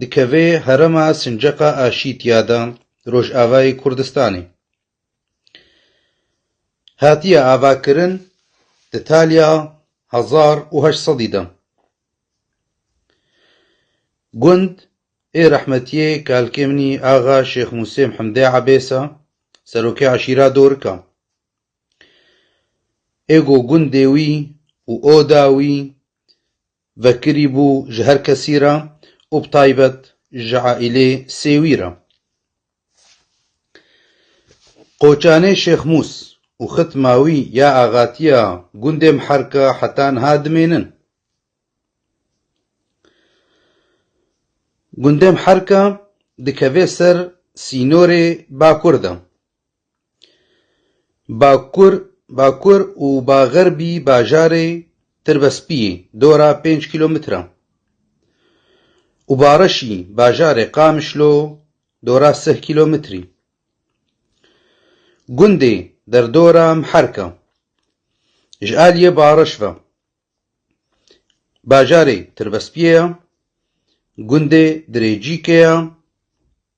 Dikeve herêma Sinceqa a Şîtiya de Rojavayê Kurdistanê. Hatiye avakirin di taliya hezar û heşt sedî de. Gund ê rehmetiyê Kalkêmnî Axa Şêx Musê Mhemdê Ebês e, serokê eşîra Dorik e. Êgo gundê wî û oda wî Vekirî bû ji her kesî re û bi taybet ji aîlê Sêwî re. Qoçanê Şêx Mûs û xitma wî ya axatiya gundê Miherka heta niha dimênin. Gundê Miherka dikeve ser sînorê bakur de. Bakur, Bakur û Baxerbî bajarê Tirbespiyê, dora pênc kîlometre, û Bareşî bajarê Qamişlo, dora sih kîlometrî. Gundê derdora Miherk e. Ji aliyê bareş ve bajarê Tirbespiyê ye, gundê Dirêcîkê ye.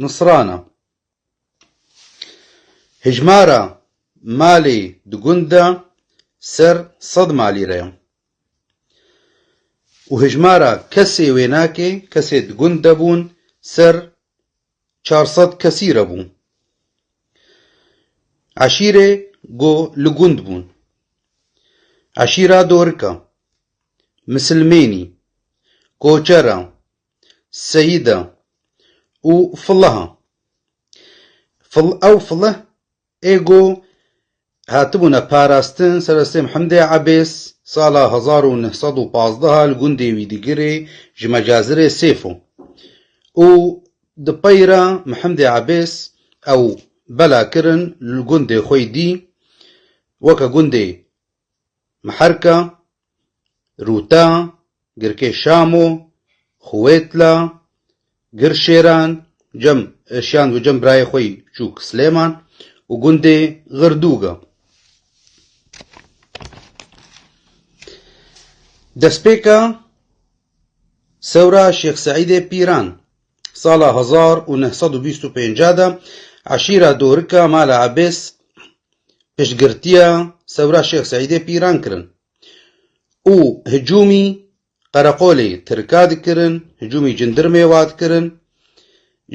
Nusran e. Hejmara malê di gund de ser sed malî re ye û hejmara kesê wênakê kesê di gund de bûn ser çar sed kesî re bû. Eşîrê ku li gund bûn, eşîra Dorika, Misilmênî, Koçera, Seyîda û Filiha. Fil ew Filih ê ku hatibûne parastin serestê Mihemdê Ebês sala hezar û neh sed û pazdeh li gundê Wîdigirê ji Mecazirê sêf o û di peyra Mihemdê Ebês ew bela kirin li gundê xwe dî weke gundê Miherka Rûta, Girkê Şamo, Xwêtla, Girşêran, Cem Şand û Cem birayê xwe yî biçûk Silêman û gundê Xirdûg e. Destpêka Sewra Şêx Seîdê Pîran. Sala hezar û neh sed û bîst û pênc de eşîra Dorika Mala Ebês piştgirtiya Sewra Şêx Seîdê Pîran kirin û hicûmî qereqolê Tirka dikirin, hicûmî cindirmê wa dikirin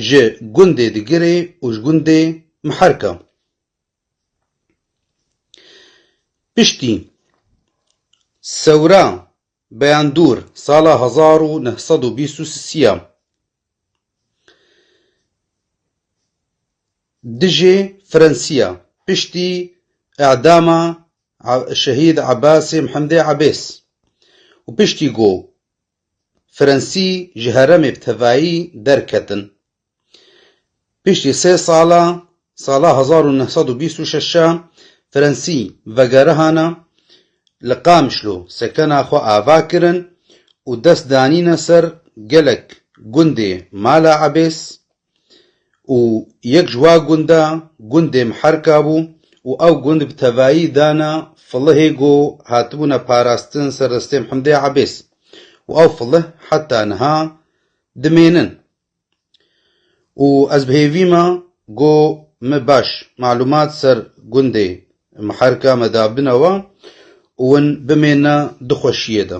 ji gundê Digirê û ji gundê Miherka. Piştî Sewra Beyan dûr sala hezar û neh sed û bîst û sî ya dijî Frensiya piştî edama Şehîd Ebasê Mihemdê Ebês û piştî ku Frensî ji heremê bi tevayî derketin Piştî sê sala sala hezar û neh sed û bîst û şeş e Frensî vegerihana li Qamişlo sekena xwe ava kirin û dest danîne ser gelek gundê Mala Ebês û yek ji wa gunda gundê Miherka bû û ew gund bi tevayî dana Filihê ku hatibûne parastin serdestê Himdê Ebês û ew filih heta niha dimênin. Û ez bi hêvî me go me baş malûmat ser gundê Miherka me dabin ew a û win bimêne di xweşiyê de.